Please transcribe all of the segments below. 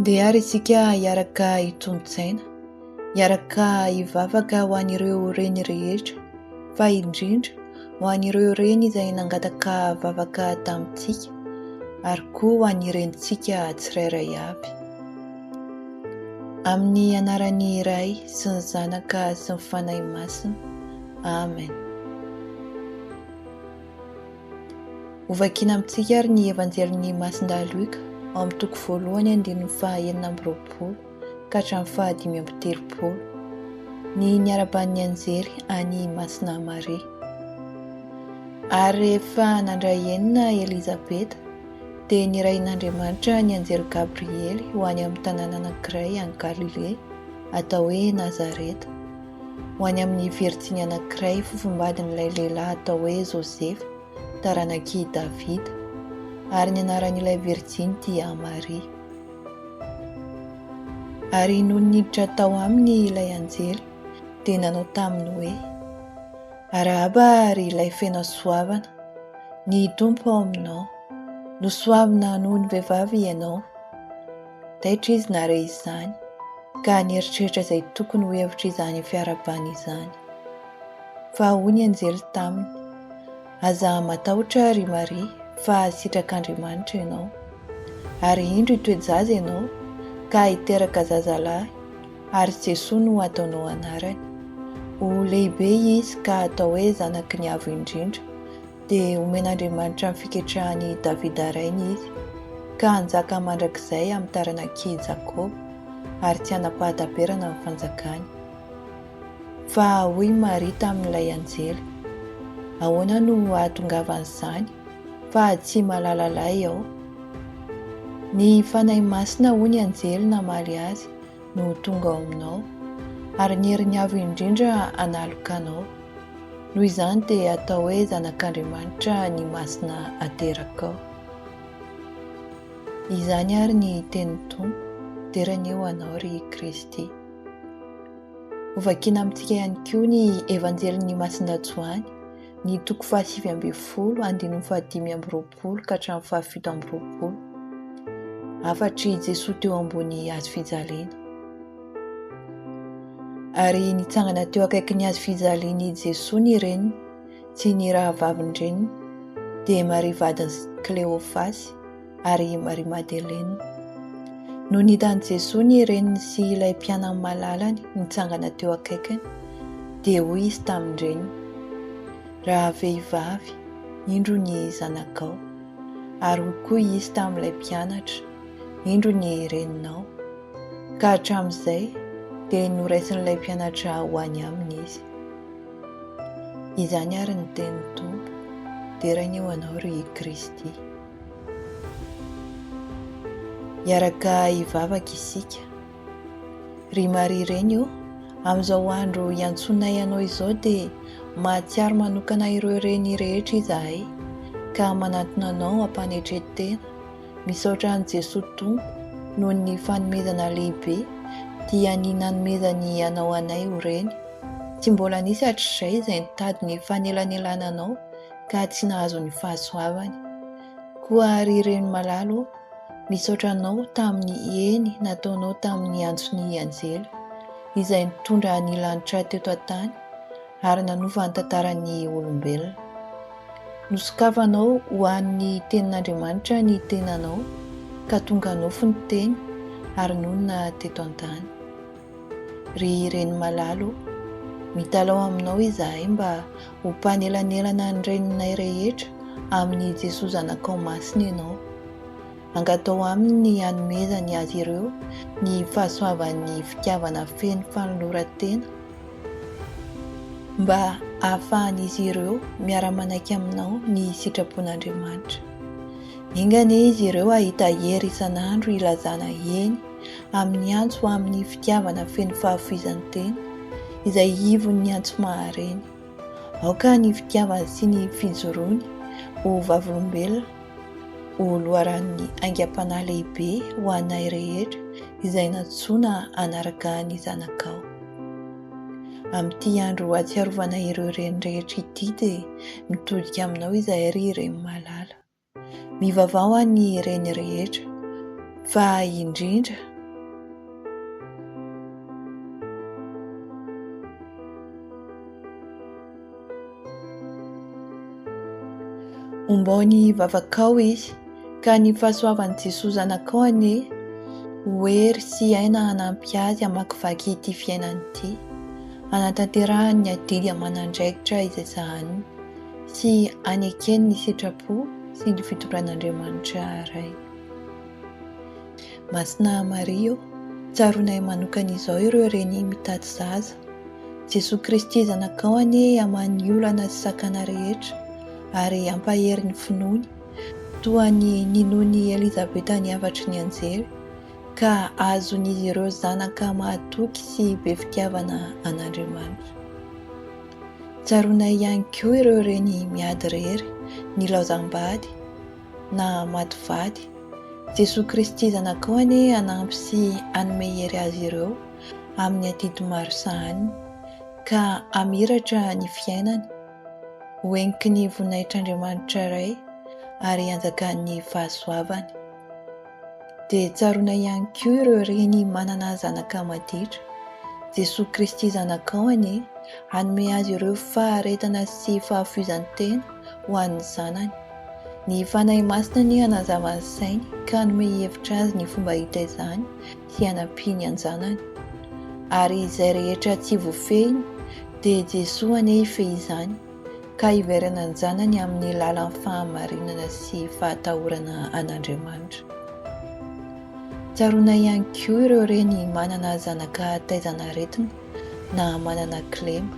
Ndeha ary isika hiaraka hitombo-tsaina, hiaraka hivavaka ho an'ireo reny rehetra, fa indrindra ho an'ireo reny izay nangataka vavaka tamintsika ary koa ho an'ny renintsika tsirairay avy. Amin'ny anaran'ny Ray sy ny Zanaka sy ny Fanahy Masina. Amen. Hovakina amintsika ary ny Evanjelin'i Masindahy Luka ao amin'ny toko voalohany andininy faha enina amby roapolo ka hatramin'ny faha dimy amby telopolo. Ny niaraban'ny anjely an'i Masina Maria. Ary rehefa nandray enina Elizabeta, dia nirahin'Andriamanitra ny anjely Gabriely ho any amin'ny tanàna anankiray any Galilea, atao hoe Nazareta. ho any amin'ny virjiny anankiray fofombadin'ilay lehilahy atao hoe Josefa, taranak'i Davida, ary ny anaran'ilay virjiny dia Maria. Ary nony niditra tao aminy ilay anjely, dia nanao taminy hoe, Arahaba ry ilay feno hasoavana, ny Tompo ao aminao, nosoavina noho ny vehivavy ianao. Taitra izy nahare izany, ka nieritreritra izay tokony ho hevitra izany fiarahabana izany. Fa hoy ny anjely taminy, Aza matahotra, ry Maria, fa sitrak'Andriamanitra ianao. Ary indro hitoe-jaza ianao, ka hiteraka zazalahy, ary Jesoa no hataonao anarany. Ho lehibe izy ka hatao hoe Zanaky ny Avo Indrindra, Dia omen'Andriamanitra ny fiketrahan'i Davida rainy izy, ka hanjaka mandrakizay amin'ny taranak'i Jakoba, ary tsy hanam-pahataperana ny fanjakany. Fa hoy i Maria tamin'ilay anjely, Ahoana no hahatongavan'izany, fa tsy malala lahy aho? Ny Fanahy Masina, hoy ny anjely namaly azy, no ho tonga ao aminao, ary ny herin'ny Avo Indrindra hanaloka anao. Noho izany dia atao hoe zanak'Andriamanitra ny masina aterakao. Izany ary ny tenin'ny Tompo, dera anie ho anao ry Kristy. Hovakiana amintsika ihany koa ny Evanjelin'i Masindahy Joany, ny toko fahasivy ambin'ny folo, andininy fahadimy amby roapolo. roapolo ka hatramin'ny fahafito amby roapolo. Hafatr'i Jesoa teo ambony hazo fijaliana. Ary nitsangana teo akaikin'ny hazo fijalian'i Jesoa ny reniny sy ny rahavavin-dreniny, dia Maria vadin'i Kleofasy ary Maria Madelena. No nitan'i Jesoa ny reniny sy ilay mpianany malalany nitsangana teo akaikiny, dia hoy izy tamin-dreniny, Rahavehivavy, indro ny zanakao. Ary hoy koa izy tamin'ilay mpianatra, Indro ny reninao. Ka hatramin'izay dia noraisin'ilay mpianatra ho any aminy izy. Izany àry ny tenin'ny Tompo, Deraina eo anao, ry Kristy. Hiaraka hivavaka isika. Ry Maria Reny ô, amin'izao andro iantsoanay anao izao dia mahatsiaro manokana ireo reny rehetra izahay ka manantona anao am-panetren-tena. Misaotra an'i Jesoa Tompo noho ny fanomezana lehibe dia ny nanomezany anao anay ho reny. Tsy mbola nisy hatrizay izay nitady ny fanelanelananao ka tsy nahazo ny fahasoavany. Koa ry reny malala ô, misaotra Anao tamin'ny eny nataonao tamin'ny antson'ny anjely, izay nitondra ny lanitra teto an-tany ary nanova ny tantaran'ny olombelona. Nosokafanao ho an'ny Tenin'Andriamanitra ny tenanao, ka tonga nofo ny Teny ary nonina teto an-tany. Ry reny malala o, mitalaho aminao izahay mba ho mpanelanelana ny reninay rehetra amin'i Jesoa Zanakao Masina ianao. Angataho Aminy ny hanomezany azy ireo ny fahasoavan'ny fitiavana feno fanoloran-tena mba hahafahan'izy ireo miara-manaiky aminao ny sitrapon'Andriamanitra. Enga anie izy ireo hahita hery isan'andro hilazana eny amin'ny antso amin'ny fitiavana feno fahafoizan-tena, izay ivon'ny antso maha-reny. Aoka ny fitiavany sy ny fijoroany ho vavolombelona ho loharanon'ny aingam-panahy lehibe ho anay rehetra izay nantsoina hanaraka ny Zanakao. Amin'ity andro hahatsiarovana ireo reny rehetra ity dia mitodika aminao izahay ry Reny malala. Mivavao any ireny rehetra, fa indrindra. Ombao ny vavakao izy, ka ny fahasoavan'i Jesoa Zanakao anie ho hery sy aina hanampy azy hamakivaky ity fiainana ity, hanatanterahany ny adidy aman'andraikitra izay sahaniny. sy hanekeny ny sitrapo sy ny fitondran'Andriamanitra Ray. Masina Maria ô, tsaroanay manokana izao ireo reny mitady zaza. Jesoa Kristy Zanakao anie hamaha ny olana sy sakana rehetra ary hampahery ny finoany, toa ny ninoan'i Elizabeta ny hafatry ny anjely, ka hahazoan'izy ireo zanaka mahatoky sy be fitiavana an'Andriamanitra. Tsaroanay ihany koa ireo reny miady irery, nilaozam-bady, na maty vady. Jesoa Kristy Zanakao anie hanampy sy hanome hery azy ireo amin'ny adidy maro sahaniny, ka hamiratra ny fiainany, ho heniky ny voninahitr'Andriamanitra Ray, ary hanjakan'ny fahasoavany. Dia tsaroana ihany koa ireo reny manana zanaka maditra. Jesoa Kristy Zanakao anie hanome azy ireo faharetana sy fahafoizan-tena ho an'ny zanany. Ny Fanahy Masina anie hanazava ny sainy ka hanome hevitra azy ny fomba hitaizany sy hanampiany an-janany. Ary izay rehetra tsy vofehiny dia Jesoa anie hifehy izany. ka hiverina an-janany amin'ny lalan'ny fahamarinana sy fahatahorana an'Andriamanitra. Tsaroana ihany koa ireo reny manana zanaka taizan'aretina na manana kilema.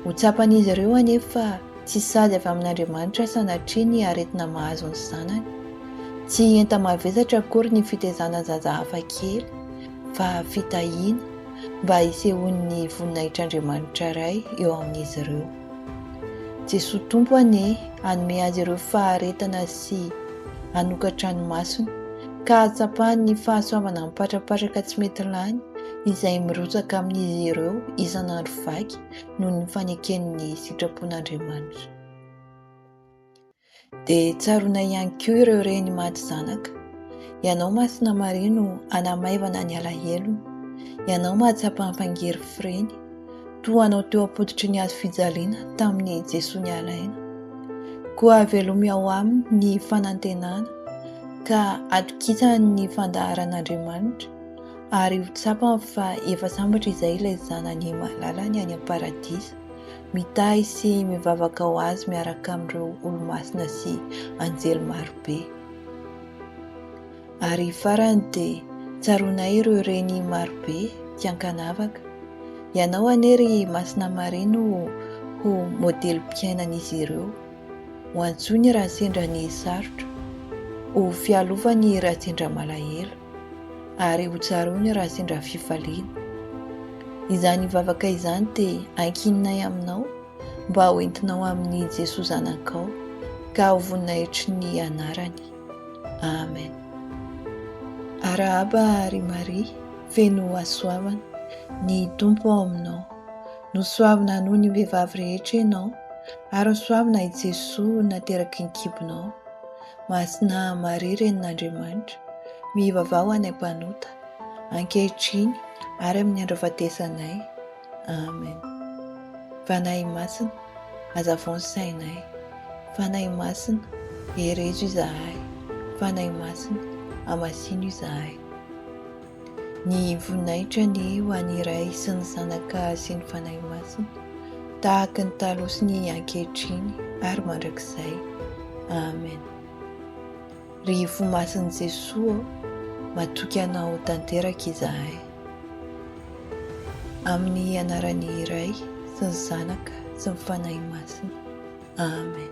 Ho tsapan'izy ireo anefa tsy sazy avy amin'Andriamanitra sanatria ny aretina mahazo ny zanany. Tsy enta-mavesatra akory ny fitaizana zaza hafakely, fa fitahiana mba hisehoan'ny voninahitr'Andriamanitra Ray eo amin'izy ireo. Jesoa Tompo anie hanome azy ireo faharetana sy hanokatra ny masony ka hahatsapany ny fahasoavana mipatrapatraka tsy mety lany izay mirotsaka amin'izy ireo isan'andro vaky noho ny faneken'ny sitrapon'Andriamanitra. Dia tsaroana ihany koa ireo reny maty zanaka. Ianao Masina Maria no hanamaivana ny alahelony. Ianao mahatsapa hampangery fireny. Toa anao teo am-pototry ny hazo fijaliana tamin'ny Jesoa nialaina. Koa havelomy ao aminy ny fanantenana ka hatokisany ny fandaharan'Andriamanitra ary ho tsapany fa efa sambatra izay ilay Zanany malalany any am-paradisa mitahy sy mivavaka ho Azy miaraka amin'ireo olo-masina sy anjely maro be. Ary farany dia tsaroanay ireo reny maro be tsy an-kanavaka. Ianao anie ry Masina Maria no ho modelim-piainan'izy ireo. Ho antsoiny raha sendra ny sarotra, ho fialovany raha sendra malahelo. ary hotsaroany raha sendra fifaliana. Izany vavaka izany dia ankininay aminao mba ho entinao amin'i Jesoa Zanakao ka ho voninahitry ny anarany. Amen. Arahaba ry Maria, feno hasoavana, ny Tompo ao aminao. Nosoavina noho ny vehivavy rehetra ianao, ary nosoavina i Jesoa nateraky ny kibonao. Masina Maria Renin'Andriamanitra, mivavaha ho anay mpanota, ankehitriny ary amin'ny andro ahafatesanay. Amen. Fanahy Masina, hazavao ny sainay. Fanahy Masina, herezo izahay. Fanahy Masina, hamasino izahay. Ny voninahitra anie ho an'ny Ray sy ny Zanaka sy ny Fanahy Masina, tahaka ny taloha sy ny ankehitriny ary mandrakizay. Amen. Ry Fo Masin'i Jesoa ô, matoky Anao tanteraka izahay. Amin'ny Anaran'ny Ray sy ny Zanaka sy ny Fanahy Masina. Amen.